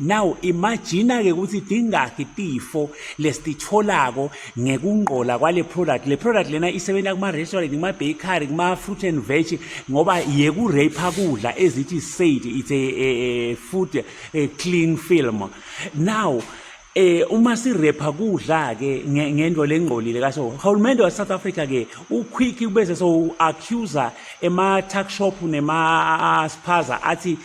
Now imagine ke ukuthi dingakhi tifo lesititholako ngekungqola kwale product. Le product lena isebenza kuma restaurant, kuma bakery, kuma fruit and veg ngoba yeku rape kudla ezithi said it's a, a, a food a eh, clean film. Now eh uma sirepha kudla ke ngento lengqolile kaso uhulumende wa South Africa ke uquick ubese so accuser ema tuck shop nema spaza athi